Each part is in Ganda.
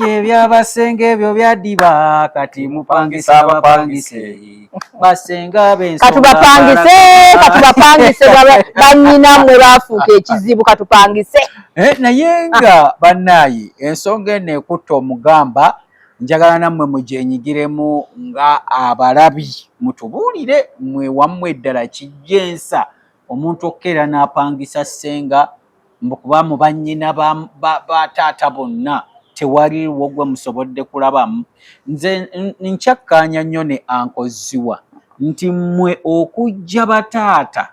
ye byabasenge ebyo byadiba kati mupangisa abapangise basenga bensokatubapangise katubapangise banyina mwe bafuuka ekizibu katupangise eh, naye nga banaye ensonga eno ekutta omugamba njagala nammwe mugyenyigiremu nga abalabi mutubuulire mwe wammwe eddala kijja ensa omuntu okukeera n'apangisa ssenga mbu kuba mu bannyina ba taata bonna tewaliwo gwe musobodde kulabamu nze nkyakkaanya nnyo ne ankozziwa nti mmwe okujja bataata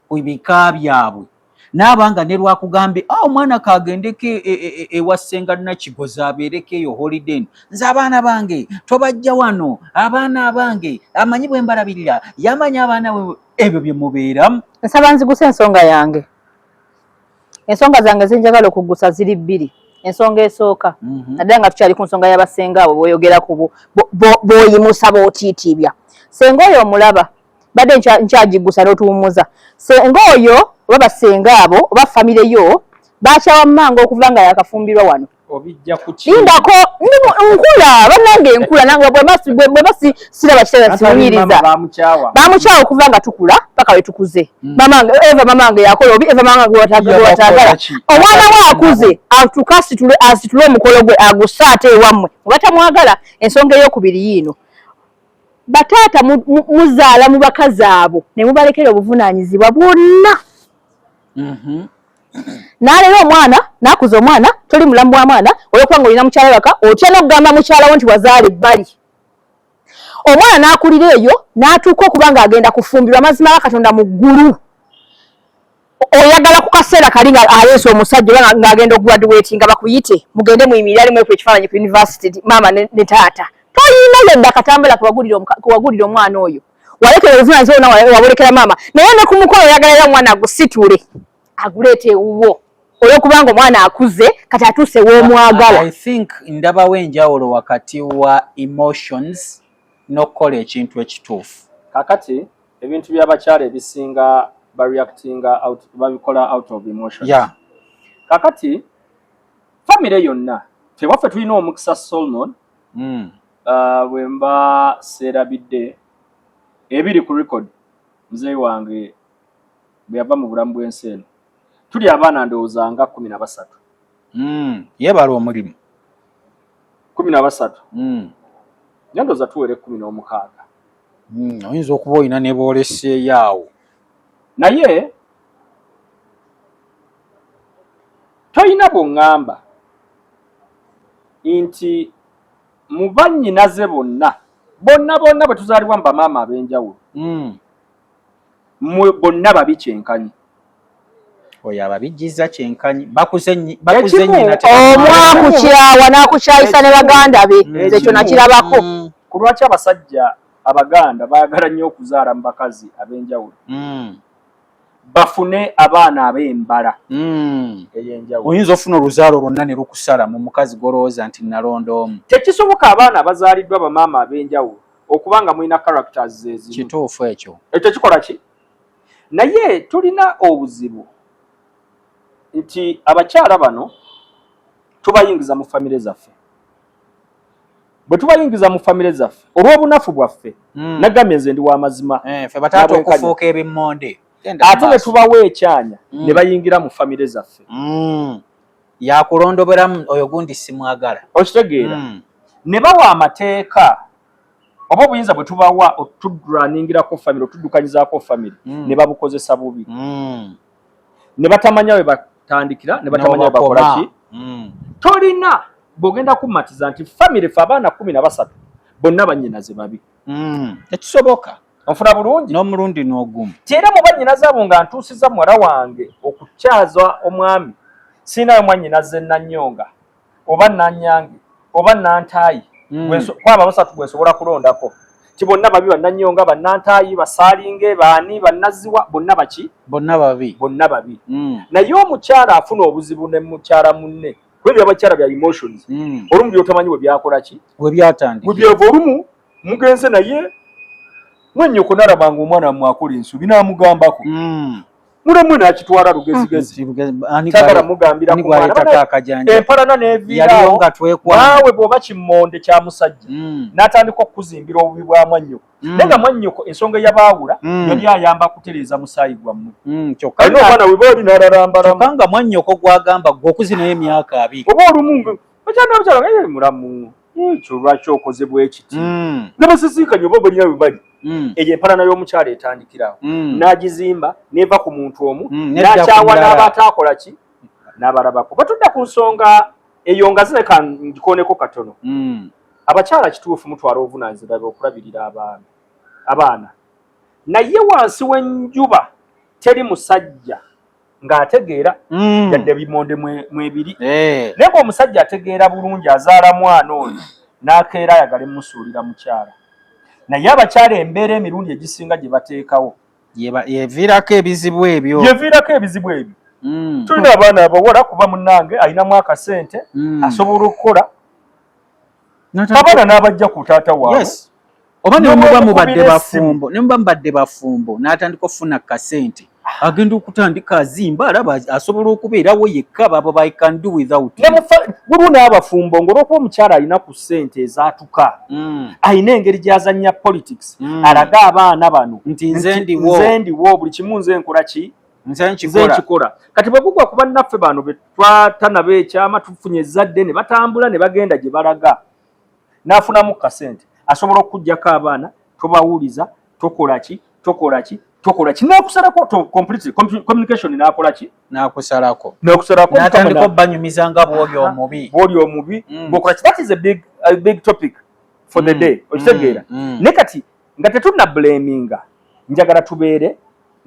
ku bika byabwe naaba nga ne lwakugambye a ah, omwana kaagendeko e, e, e, ewa ssenga nakigoza abeereko eyo holiden nze abaana bange tobajja wano abaana abange amanyi bwe mbalabirira yamanya abaana ebyo bye mubeeramu nsaba nziguse ensonga yange ensonga zange zenjagala okugusa ziri bbiri ensonga esooka mhm. naddala nga tukyali ku nsonga y'abasenga abo boyogera ku boyimusa bootiitiibya senga oyo omulaba badde nkyagigusa n'otuwummuza senga oyo oba basenga abo oba famire yo bakyawa mumanga okuva nga yakafumbirwa wano lindako nkula banange nkula bweba siraba kitala siwunyiriza bamukyawa okuva nga tukula paka wetukuze hmm. mamange eva mamange yakola obi eva mamange watagala omwana we akuze atuka asitule omukolo gwe agusa ate ewammwe obatamwagala ensonga eyokubiri yiino bataata muzaala mu bakazi abo ne mubalekera obuvunaanyizibwa bwonna mhm. nalera omwana nakuza omwana toli mulamu bwa mwana olwokuba nga olina mukyala waka otya nokugamba mukyala wo nti wazaala ebbali omwana nakulira eyo natuuka okuba nga agenda kufumbirwa amazima ga katonda mu ggulu oyagala ku kaseera kali nga aleese omusajja oba ngaagenda okugraduati nga bakuyite mugende muyimirire alimu eku ekifaananyi ku univesity maama ne taata toyina yadde akatambula kewagulira omwana oyo walekera obuvunaanyizibwa bwonna wabulekera maama naye ne ku mukolo oyagala era omwana agusitule aguleeta ewuwo olwokubanga omwana akuze kati atuuse w'omwagala i think ndabawo enjawulo wakati wa emotions n'okukola ekintu ekituufu kakati ebintu by'abakyala ebisinga bareactinga babikola out of emotions yeah. kakati famire yonna tewaffe tulina omukisa solomon mm. uh, bwe mba seerabidde ebiri ku record muzeeyi wange bwe yava mu bulamu bw'ensi eno tuli abaana ndowooza nga kumi na basatu mm, yeebala omulimu kumi na basatu mm. naye ndowooza tuwere kumi n'omukaaga mm, oyinza okuba olina ne booleseeyo awo naye toyina bwongamba nti mu bannyinaze bonna bonna bonna bwe tuzaalibwa mu bamaama ab'enjawulo hmm. mu bonna babi kyenkanyi oyo ababijjiza kyenkanyi bakuzeomwakukyawa n'akukyayisa ne baganda be hmm. nze ekyo nakirabako hmm. ku lwaki abasajja abaganda baagala nnyo okuzaala mu bakazi ab'enjawulo bafune abaana ab'embala hmm. ey'enjawulo. Oyinza ofuna oluzaalo lwonna ne lukusala mu mukazi gw'olowooza nti nalonda omu. Tekisoboka abaana abazaaliddwa bamaama ab'enjawulo okuba nga mulina characters ze zimu. Kituufu ekyo. Ekyo kikola ki? Naye tulina obuzibu nti abakyala bano tubayingiza mu famire zaffe. bwe tubayingiza mu famire zaffe olw'obunafu bwaffe hmm. nagambye nze ndi wamazima eh, fe bataata okufuuka ebimmonde ate ne tubawa ekyanya hmm. ne bayingira mu famire zaffe hmm. yakulondoberamu oyo gundi simwagala okitegeera ne bawa amateeka oba obuyinza bwe tubawa otudraningirako famire otudukanyizaako famire ne babukozesa bubi ne batamanya we batandikira ne batamanya we bakola ki mm. tolina bw'ogenda kummatiza nti famire fe abaana kumi na basatu bonna bannyinaze babi mm. tekisoboka nfuna bulungi n'omulundi n'ogumu tiera mu bannyinaze abo nga ntuusiza muwala wange okukyaza omwami siinayo mwannyinaze nanyonga oba nanyange oba nantaayi mm. kwaba basatu gwensobola kulondako ti bonna babi bananyonga banantaayi basaalinge baani banaziwa bonna baki bonna babi bonna babi mm. naye omukyala afuna obuzibu ne mukyala munne kuba ebyabakyala bya emotions mm. olumu byotamanyi webyakolaki webyatandika webyava olumu mugenze naye mwenyoko nalaba nga omwana wamwe akola ensobi namugambako mm. mulemwe nakitwala lugezigezi mm, sagala mugambira empalana neviirawo naawe bwoba kimmonde kya musajja mm. natandika okukuzimbira obubi bwa mwannyoko mm. naye nga mwannyoko ensonga eyabaawula yali ayamba kutereeza musaayi gwammwe kyokkaomwana weba oli nalalambalamu nga mwannyoko gwagamba gwe okuzi naye emyaka abiri oba olumu bakyanda bakyala nga yali mulamu ekyo lwaki okoze bwekiti mm. nabasisinkanye oba balina we bali mm. eyo empalana y'omukyala etandikirawo mm. n'agizimba neva ku muntu omu n'akyawa n'aba ataakola ki n'abalabako batudda ku nsonga eyo nga zireka ngikoneko katono abakyala kituufu mutwala obuvunanyizibwa bwe okulabirira abaana abaana naye wansi w'enjuba teri musajja ng'ategeera mm. yadde bimonde mwebiri eh. naye ng'omusajja ategeera bulungi azaala mwana oyo n'akeera ayagale musuulira mukyala naye abakyala embeera emirundi egisinga gye bateekawo yeviirako ebizibu ebyo yeviirako ebizibu ebyo mm. tulina abaana abawala kuba munange alinamu akasente mm. asobola okukola abaana n'abajja ku taata waabwe yes. oba nemuba mubadde bafumbo nemuba mubadde bafumbo n'atandika okufuna kasente ah. agenda okutandika azimba alaba asobola okubeerawo yekka babo by can do without waliwo n'abafumbo ngaolwokuba omukyala alina ku sente ezatuka mm. alina engeri gyazanya politics mm. alaga abaana bano nti nze ndiwo buli kimu nze nkola ki nze nkikola kati bwe kugwa kuba naffe bano be twatanaba ekyama tufunye ezzadde ne batambula ne bagenda gye balaga n'afunamu kasente asobola okukuggyako abaana tobawuliza tokola ki tokola ki tokola ki nakusalako to completely communication nakola ki nakusalako nakusalako natandika banyumiza nga bwoli omubi bwoli omubi mm. bokola ki that is a big a big topic for the mm. day okitegeera mm. ne kati nga tetunabuleminga njagala tubeere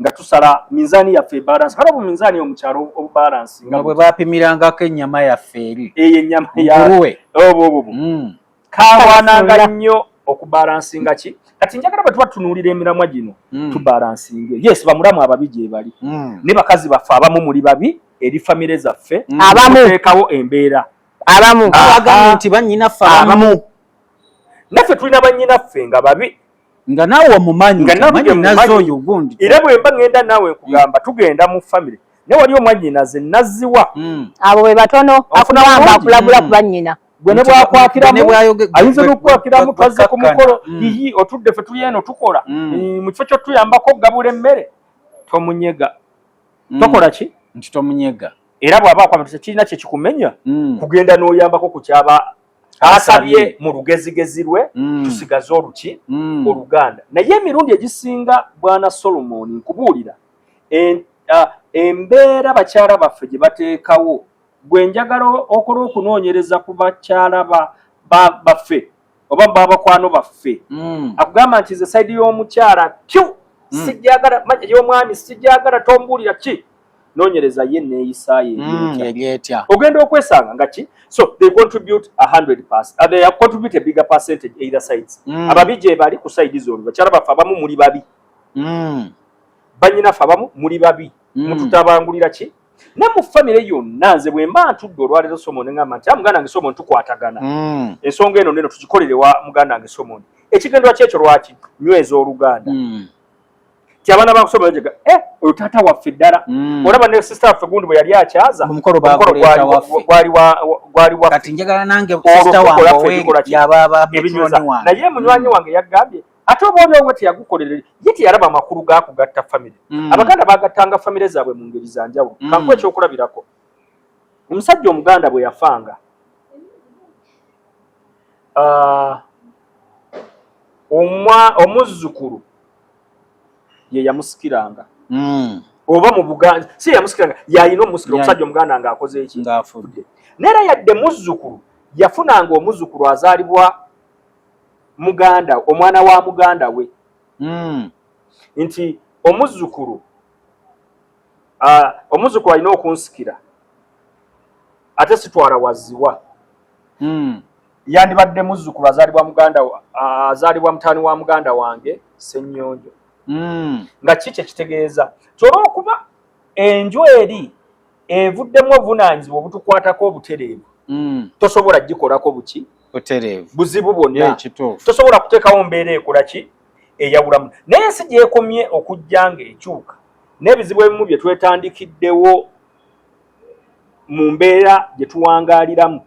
nga tusala minzaani yaffe ebalansi kale obu minzaani yo mukyalo obubalansi nga bwe bapimirangako ennyama yaffe eri eyo ennyama yawe obo obo mm. kawananga nnyo okubalansinga ki kati njagala bwe tuba tunuulira emiramwa gino mm. tubalansinge yes bamulamu ababi gye bali mm. ne bakazi baffe abamu muli babi eri famire zaffe abamu teekawo embeera abamu abagambye nti bannyina ffe abamu naffe tulina bannyinaffe nga babi nga naawe omumanyi nazo oyo gundi era bwe mba ŋŋenda naawe nkugamba mm. tugenda mu famire naye wali omwannyinaze naziwa mm. abo be batono akugamba akulabula mm. ku bannyina gwe ne bwakwakiramuayinza n'okukwakiramu twazze ku mukolo iyi otudde fe tuli eno tukola mu kifo ky'otuyambako okugabula emmere tomunyega tokola ki nti tomunyega era bw'aba akwamatusa kirina kye kikumenya kugenda n'oyambako ku kyaba asabye mu lugezigezi lwe mm. tusigaze oluki mm. oluganda naye emirundi egisinga bwana solomon nkubuulira embeera bakyala baffe gye bateekawo gwe njagala okola okunoonyereza ku bakyala baffe oba babakwano baffe mm. akugamba nti ze saidi y'omukyala kyu sijagala manya y'omwami sijagala tombuulira ki nonyereza ye neyisa ye mm, yetya ogenda okwesanga nga ki so they contribute 100 pass uh, they have contribute a bigger percentage either sides mm. ababi je bali ku side zone bachara bafa abamu muli babi mm. banyina fa abamu muli babi mm. mututabangulira ki ne mu family yonna nze bwe mba ntudde olwaleero somo ne ngamba nti ah, muganda wange somo ntukwatagana mm. ensonga eno neno tugikolere wa muganda wange somo ekigendwa kyekyo lwaki nyweza oluganda mm. ti abaana bakusoma njega eh oyo tata waffe ddala mm. olaba ne sister waffe gundi bwe yali akyaza omukolo gwali gwali wa kati njagala nange sister wange owe yababa ebinyuza naye munywanyi mm. wange yagambye ate oba oli owe teyagukolera ye teyalaba amakulu ga kugatta famire mm. abaganda bagattanga famire zaabwe mu ngeri za njawulo mm. kankuwa ekyokulabirako omusajja omuganda bwe yafanga uh, omuzzukulu ye yamusikiranga hmm. oba mu buganda si yamusikiranga yalina omusikira omusajja omuganda nga akoze eki ngaafudde naye era yadde muzzukulu yafunanga omuzzukulu azaalibwa muganda omwana wa muganda we hmm. nti omuzzukulu ah, omuzzukulu alina okunsikira ate sitwala waziwa hmm. Yandibadde muzzukulu azaalibwa muganda azaalibwa mutaani wa muganda wange Ssennyonjo. Hmm. Nga ki kye kitegeeza nti olw'okuba enju eri evuddemu obuvunaanyizibwa obutukwatako obutereevu hmm. tosobola gikolako buki butereevu buzibu bwonna tosobola kuteekawo mbeera ekola ki eyawulamu naye ensi gyekomye okujja ng'ekyuka n'ebizibu ebimu bye twetandikiddewo mu mbeera gye tuwangaaliramu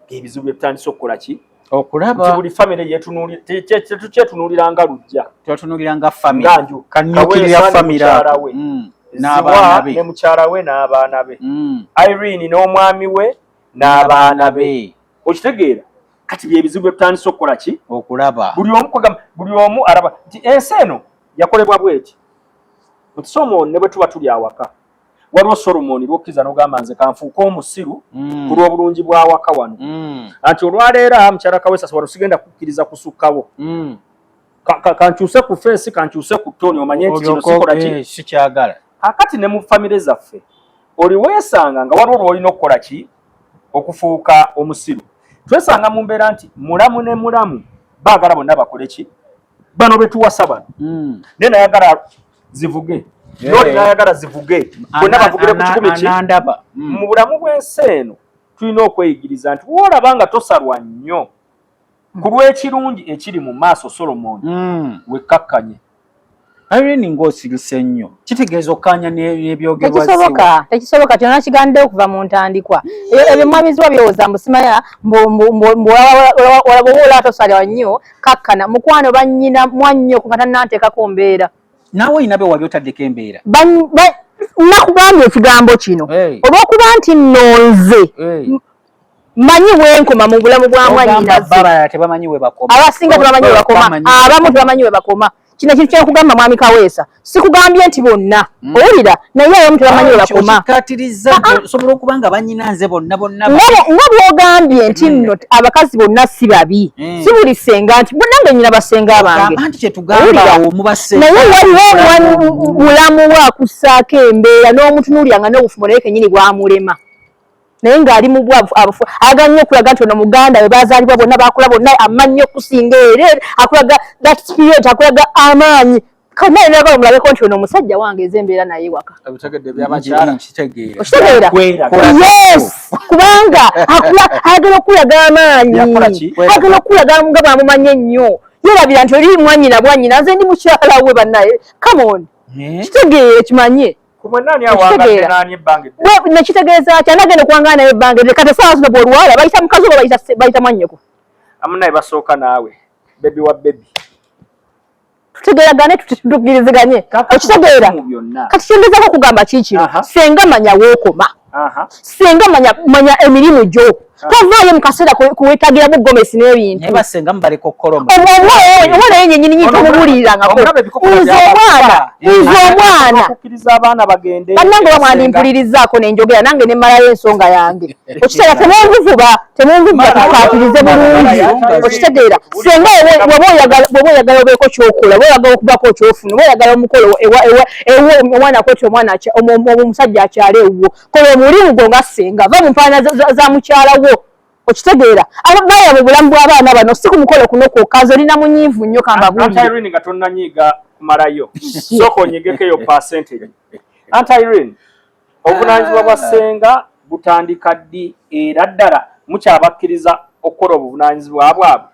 ebizibu bye tutandise okukola ki okulaba buli famire yetunuuliratetyetunuulira nga lujja twetunuulira nga famire nganju kanyukirira famire we mm. n'abaana be ne mukyala we n'abaana be mm. irene n'omwami we n'abaana be okitegeera kati byebizibu bye tutandise okukola ki okulaba buli omu kwegamba buli omu alaba nti ensi eno yakolebwa bweti nti somooni ne bwe tuba tuli awaka waliwo solomoni lwokkiza nogamba nze kanfuuka omusiru mm. ku lw'obulungi bwawaka wano mm. anti olwaleero a mukyala kawesasa wano sigenda kukkiriza kusukkawo mm. kankyuse ku fensi kankyuse ku toni omanye nti kino sikola ki eh, sikyagala akati ne mu famire zaffe oli weesanga nga waliwo lwolina okukola ki okufuuka omusiru twesanga mu mbeera nti mulamu ne mulamu baagala bonna bakole ki bano betuwasa bano naye nayagala zivuge noli nayagala zivuge bonna bavugire ku kikumi ki mm. mu bulamu bw'ensi eno tulina okweyigiriza nti woolaba nga tosalwa nnyo mm. ku lw'ekirungi ekiri mu maaso solomoni mm. wekkakkanye irene ng'osirise nnyo kitegeeza okukanya n'ebyogerwatekisoboka tekisoboka kyona kiganidde okuva mu ntandikwa ebyo mwamiziwa byowoza mbusimaya mbuwalawowola atosalwa nnyo kakkana mukwano bannyina mwannyo ku kata nanteekako mbeera naawe olina be wali otaddeko embeera nakugambye ekigambo kino olwokuba nti nno nze manyi wenkoma mu bulamu bwa mwanyinaze abasinga tebamanyi webakoma abamu tebamanyi webakoma kino ekintu kyenkugamba mwami kaweesa sikugambye nti bonna mm. owulira naye abamu tebamanyi webakomaosobola ah, ah. okuba nga banyina nze bonna bonna nga bwogambye nti mm. nno abakazi bonna si babi mm. si buli senga nti bonange nyina basenga abangenaye waliwo mulamu wakussaako embeera n'omutunuulira nga n'obufumo naye kenyini bwamulema naye ng'ali mu bwavu abufu aga nnyo okulaga nti ono muganda we baazaalibwa bonna bakula bonna amannyo okusinga ere akulaga that spirit akulaga amaanyi kanaye nagala omulabeko nti ono omusajja wange eze embeera naye waka okitegeera yes kubanga ayagala okukulaga amaanyi ayagala okukulaga nga bwamumanyi ennyo yerabira nti oli mwanyina bwanyina nze ndi mukyala we banaye come on eh? kitegeere kimanye nekitegeeza ki anagenda okuwangana naye ebbanga eryo kati esaawa zino bwolwala bayita mukazi oba bayita mwannyoko amunaye basooka naawe bebi wa bebi tutegeragane tukiriziganye okitegeera kati kyengezako okugamba kiikino senga manya wookoma senga manya manya emirimu gyo tovaayo mu kaseera kuwetagiramu gomesi n'ebintu omwana ye nyenyini nyingi tomubulirirangako nze omwana nze omwana bannange bamwandimpulirizaako nenjogera nange nemalayo ensonga yange okiteera temunvuvuba temunvuvuba tukaatirize bulungi okitegeera senga weba oyagala obeeko kyokola weyagala okubako kyofuna weyagala omukolo ewuwo omwana kweti omwana omusajja akyala ewuwo kola omulimu gwo nga senga va mu mpaana za mukyala wo okitegeera ababaya mu bulamu bw'abaana bano si ku mukolo kuno kwokka nze olina munyiivu nnyo kambabuulire nga tonnanyiiga kumalayo sooka onyigeko eyo percentage anti irene obuvunanyizibwa bwa ssenga butandika ddi era ddala mukyabakkiriza okukola obuvunanyizibwa bwabwe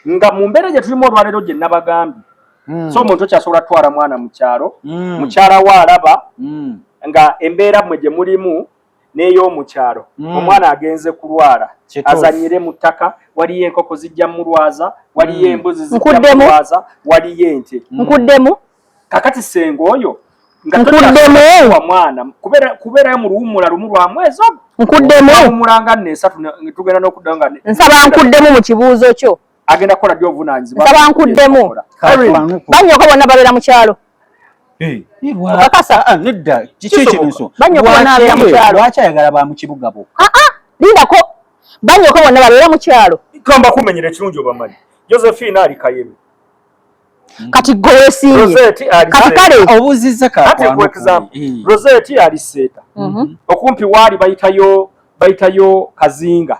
nga mu mbeera gye tulimu olwaleero gye nabagambye hmm. so omuntu okyasobola twala mwana mu kyalo hmm. mukyala wo alaba hmm. nga embeera mwe gye mulimu n'ey'omu kyalo omwana agenze kulwala azanyire mu ttaka waliyo enkoko zijja mulwaza waliyo embuzi zijja mulwaza waliyo ente nkuddemu kakati senga oyo nkuddemu mwana kubera kubera mu luwumula lumu lwa mwezi ogwo nkuddemu omulanga ne esatu tugenda n'okuddayo nga nsaba nkuddemu mu kibuuzo kyo agenda kukola ddi obuvunaanyizibwa nsaba nkuddemu banyoka bonna babeera mu kyalo lwaki ayagala ba mu kibuga bo ah, ah, lindako banyoka bonna babeera mu kyalo tugamba kumenyera ekirungi obamanyi josephine ali kayebe Mm. kati gwe wesinye kati kale obuziza ka kati for example mm. Rosette ali seta mm -hmm. okumpi wali bayitayo bayitayo kazinga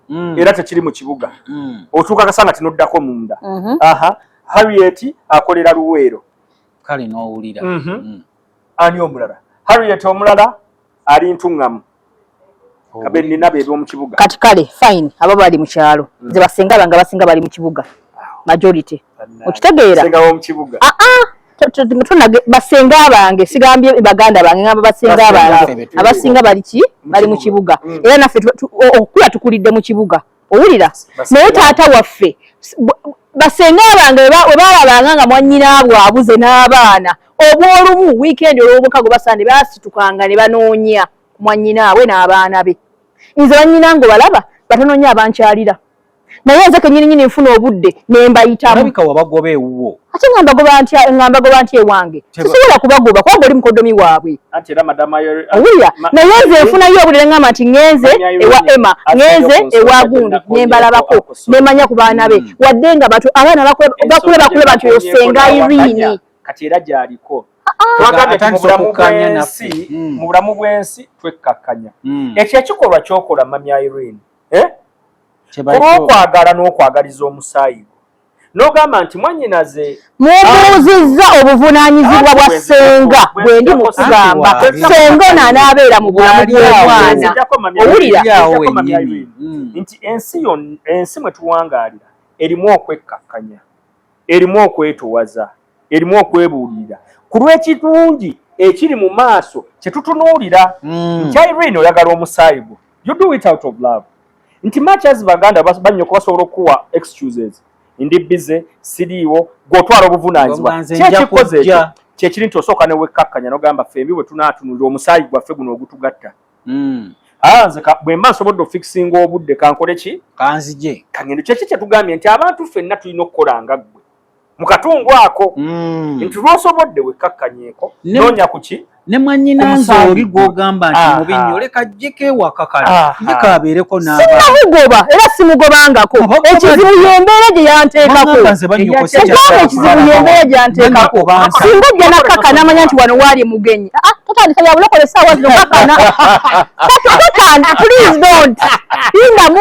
mm. era tekiri mu kibuga mm. otuka kasanga tinoddako munda mm -hmm. aha Harriet akolera luwero kale no ulira mm -hmm. mm. ani omulala Harriet omulala ali ntuŋŋamu kabe nina be b'omu kibuga kati kale fine abo bali mu kyalo mm. nze basinga banga basinga bali mu kibuga majority okitegeera singa b'omu kibuga ah ah tunage basinga bange sigambye baganda bange ngamba basinga bange abasinga bali ki bali mu kibuga mm. era naffe okukula tukulidde mu kibuga owulira naye taata waffe basenga bange webalabanga nga mwanyinaabwe abuze n'abaana obwolumu wiikendi olwobukago basande basitukanga ne banoonya ku mwanyinaabwe n'abaana be nze banyina nga obalaba batanoonya abankyalira naye nze kenyini nyini nfuna obudde nembayitamu ate nga mbagoba ntya nga mbagoba ntya ewange sisobola kubagoba kubanga oli mukodomi waabwe owulira naye nze nfunayo obulire ngamba nti ŋenze ewa emma ŋenze ewa gundi nembalabako nemanya ku baana be hmm. wadde nga batu abaana bakule bakuleba nti oyo senga irini kati era gyaliko twagaemubulamubwensi hmm. mu bulamu bwensi twekkakkanya hmm. ekyo ekikolwa kyokola mamya irini eh? olwokwagala n'okwagaliza omusaayi nogamba nti mwanyinaze mubuuzizza obuvunaanyizibwa bwa ssenga bwendi mukugamba ssenga ono anaabeera mu bulamu bw'omwana owulira mm. nti ensi yo ensi mwe tuwangaalira erimu okwekkakkanya erimu okwetuwaza erimu okwebuulirira ku lw'ekirungi ekiri mu maaso kye tutunuulira mm. nti irene oyagala omusaayi gwo you do it out of love nti much as baganda bannyo kubasobola okukuwa excuses ndi bize siriiwo gw'otwala obuvunaanyizibwa kyekikoze ekyo kyekiri nti osooka ne wekkakkanya n'ogamba fembi bwe tunaatunulira omusaayi gwaffe guno ogutugatta mm. Ah, nze bwemba nsobodde ofikisinga obudde kankole ki kanzije kangendo kyeki kyetugambye nti abantu ffenna tulina okukola nga ggwe mu katundu ako mm. nti lwosobodde wekkakkanyeko noonya kuki ne mwanyinanze oli gwogamba nti mubi nnyo oleka jjeko ewaka kale jjeko abeereko naabamugoba era simugobangako ekizibu yembeera gye yanteekako ogamba ekizibu yembeera gye yanteekako singa ojja nakaka namanya nti wano waali mugenyi ah, ah, totandika bya bulokole saawa zino kakana kakana please don't indamu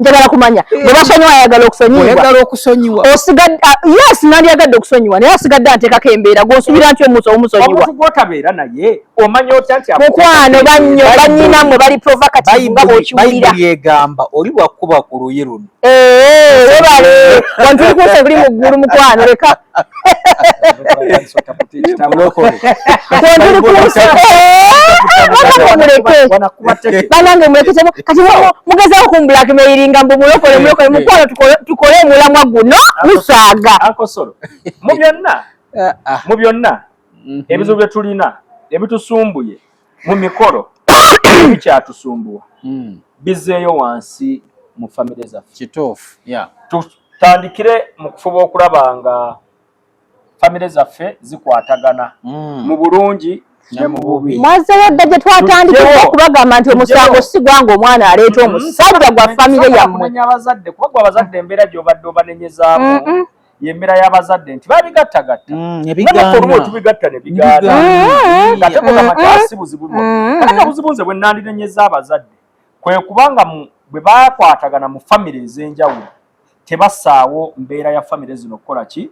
njagala kumanya bwe basonyiwa ayagala okusonyiwa ah, yes nandyagadde okusonyiwa naye asigadde anteekako embeera gwonsubira nti omusa omusonyiwaotabeera naye omanya otya nti mukwano banyo banyina mwe bali provocative nga bwokiwulira yegamba oli bwakuba ku luyi luno webale wantuli kunsi ebuli mu ggulu mukwano leka banange muleketemu kati mugezaho ku blackmailinga mbu mulokole mulokole mukwano tukole omulamwa guno musaaga mu byonna ebizibu byetulina ebitusumbuye mu mikolo bikyatusumbuwa hmm. bizeeyo wansi mu famire zaffe kituufu tutandikire mu kufuba okulaba nga famire zaffe zikwatagana hmm. mu bulungi mwazeyo dda gye twatandikira okubagamba nti omusango sigwa nga omwana aleeta mm-hmm. omusajja gwa famire yammwe abazadde kuba gwe abazadde embeera gyobadde obanenyezaamu yemera yabazadde nti babigattagatta mm, naolumu tubigatta nebigaana mm. nga tekugamba ti asi buzibu mm. ate nga buzibu nze bwenandinenyeza abazadde kwekubanga bwe bakwatagana mu famire ez'enjawulo tebasaawo mbeera ya famire zino okukola ki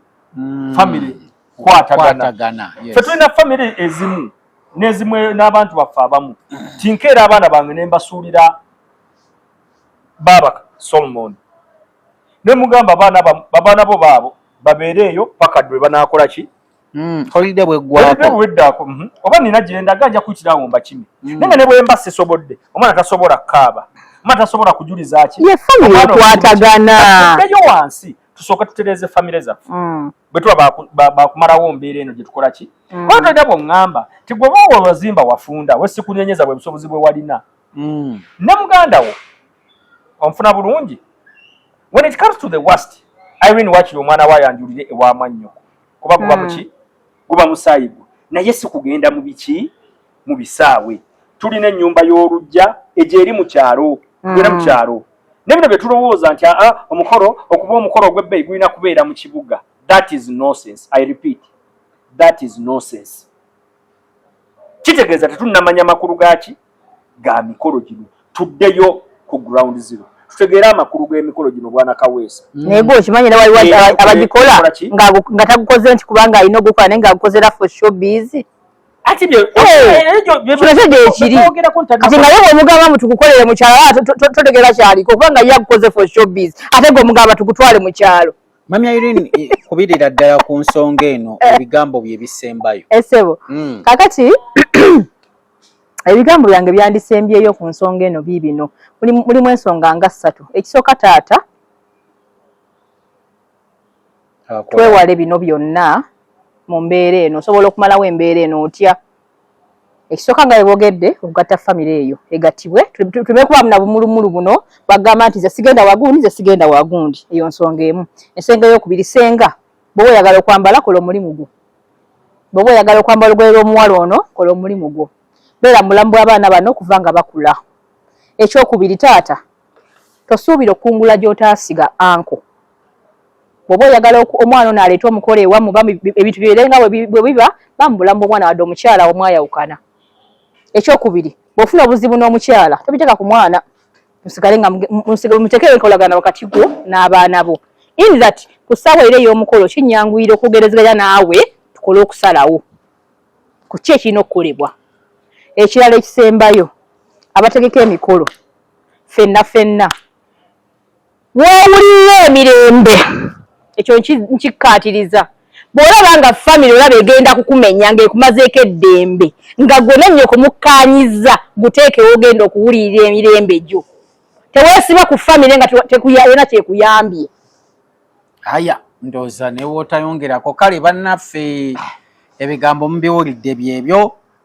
famire kwatagana fe tulina famire ezimu nezimu n'abantu baffe abamu tinkeera abaana bange nembasuulira baaba solomoni nemugamba babaana bo baabo babeere eyo paka dwe banakola ki hmm, holide bweggwakoweddaako mhm. oba nina gyendaga nja kuyitira awo mbakimi hmm. naye nga ne bwemba sisobodde omwana tasobola kaaba omwana tasobola kujuliza ki yefamiyekwataganaeyo wansi tusooke tutereeze famire zaffe hmm. bwe tuba bakumalawo mbeera eno gye tukola ki oba tolina bwoŋŋamba ti gwe booba wazimba wafunda wesikunenyeza bwe busobozi bwe walina ne muganda wo onfuna bulungi when it comes to the worst irene wakiri omwana wa yanjulire ewa mwannyoko kuba guba hmm. muki guba musaayi gwo naye si kugenda mu biki mu bisaawe tulina ennyumba y'olujja egyo eri mu kyalo hmm. era mu kyalo ne bino bye tulowooza nti aa ah, ah, omukolo okuba omukolo ogw'ebbeeyi gulina kubeera mu kibuga that is nonsense i repeat that is nonsense kitegeeza tetunnamanya makulu gaaki ga mikolo gino tuddeyo ku ground zero tutegeere amakulu g'emikolo gino bwana kaweesa mm. naye gwe okimanyi era waliwo abagikola nga tagukoze nti kubanga alina ogukola naye ngaagukozera for show busy omugamba mutukukolere mukyalo totegera kyaliko kubanga ye agukoze for show busy ate gwe omugamba tugutwale mu kyalo Mami Irene eh, kubirira ddala ku nsonga eno eh. ebigambo bye bisembayo. Esebo. Eh, mm. Kakati ebigambo byange byandisembyeyo ku nsonga eno biibino mulimu ensonga nga ssatu ekisooka taata twewale bino byonna mu mbeera eno osobola okumalawo embeera eno otya ekisooka nga webogedde okugatta famire eyo egattibwe tubekubamu na bumulumulu buno bagamba nti zesigenda wagundi zesigenda wagundi eyo nsonga emu ensenga eyokubiri senga bwoba oyagala okwambala kola omulimu gwo bwoba oyagala okwambala olugoye lw'omuwala ono kola omulimu gwo beera mubulamu bw'abaana bano okuva nga bakula ekyokubiri taata tosuubira okukungula gy'otaasiga anko bwoba oyagala omwana ono aleeta omukolo ewamu ebintu byere nga bwe biba ba mubulamu bw'omwana wadde omukyala omwayawukana ekyokubiri bw'ofuna obuzibu n'omukyala tobiteeka ku mwana musigale nga musigale muteekere enkolagana wakati gwo n'abaana bo in that ku ssaawa era ey'omukolo kinyanguyira okwogerezeganya naawe tukole okusalawo ku ki ekirina okukolebwa ekirala ekisembayo abategeka emikolo fenna fenna w'owulirira emirembe ekyo nkikkaatiriza bw'olaba nga famire olaba egenda kukumenya ng'ekumazeeko eddembe nga gwe nenyo kumukkaanyizza guteekewo ogenda okuwulirira emirembe gyo teweesiba ku famire nga tekuyalina kyekuyambye aya ndooza newootayongerako kale bannaffe ebigambo mubiwulidde byebyo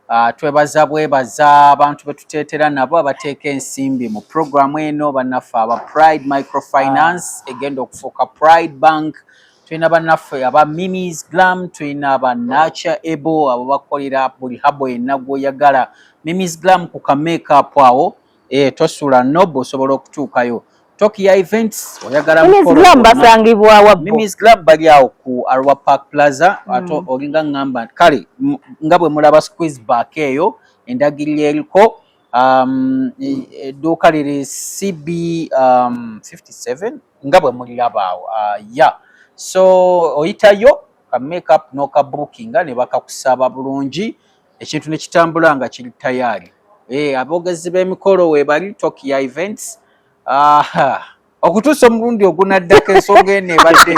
Ah, twebaza bwebaza abantu betuteetera nabo abateeka ensimbi mu puroguramu eno bannaffe aba pride microfinance ah. egenda okufuuka pride bank tulina bannaffe aba minis glam tulina ba nature able abo bakolera buli habo yenna gwoyagala minis glam ku kamakeup awo eh tosula nob osobola okutuukayo tokia events oyagala mbasangibwa wa mimis club bali awo ku arwa park plaza mm. ato olinga ngamba kale nga bwe mulaba squeeze back eyo endagiriro eriko um, e, e, edduuka liri cb um, 57 nga bwe muliraba awo uh, ya so oyitayo ka makeup noka bookinga ne bakakusaba bulungi ekintu ne kitambula nga kiri tayaali e, eh, aboogezi b'emikolo webali tokia events aha okutuusa omulundi ogunaddako ensonga eno ebadde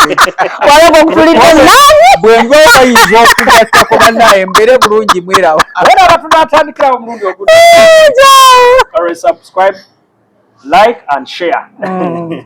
bwenga bayinza okugattako banaye mbeere bulungi mwerawo era abantu natandikirawo omulundi ogunalwansubscribe like and share mm.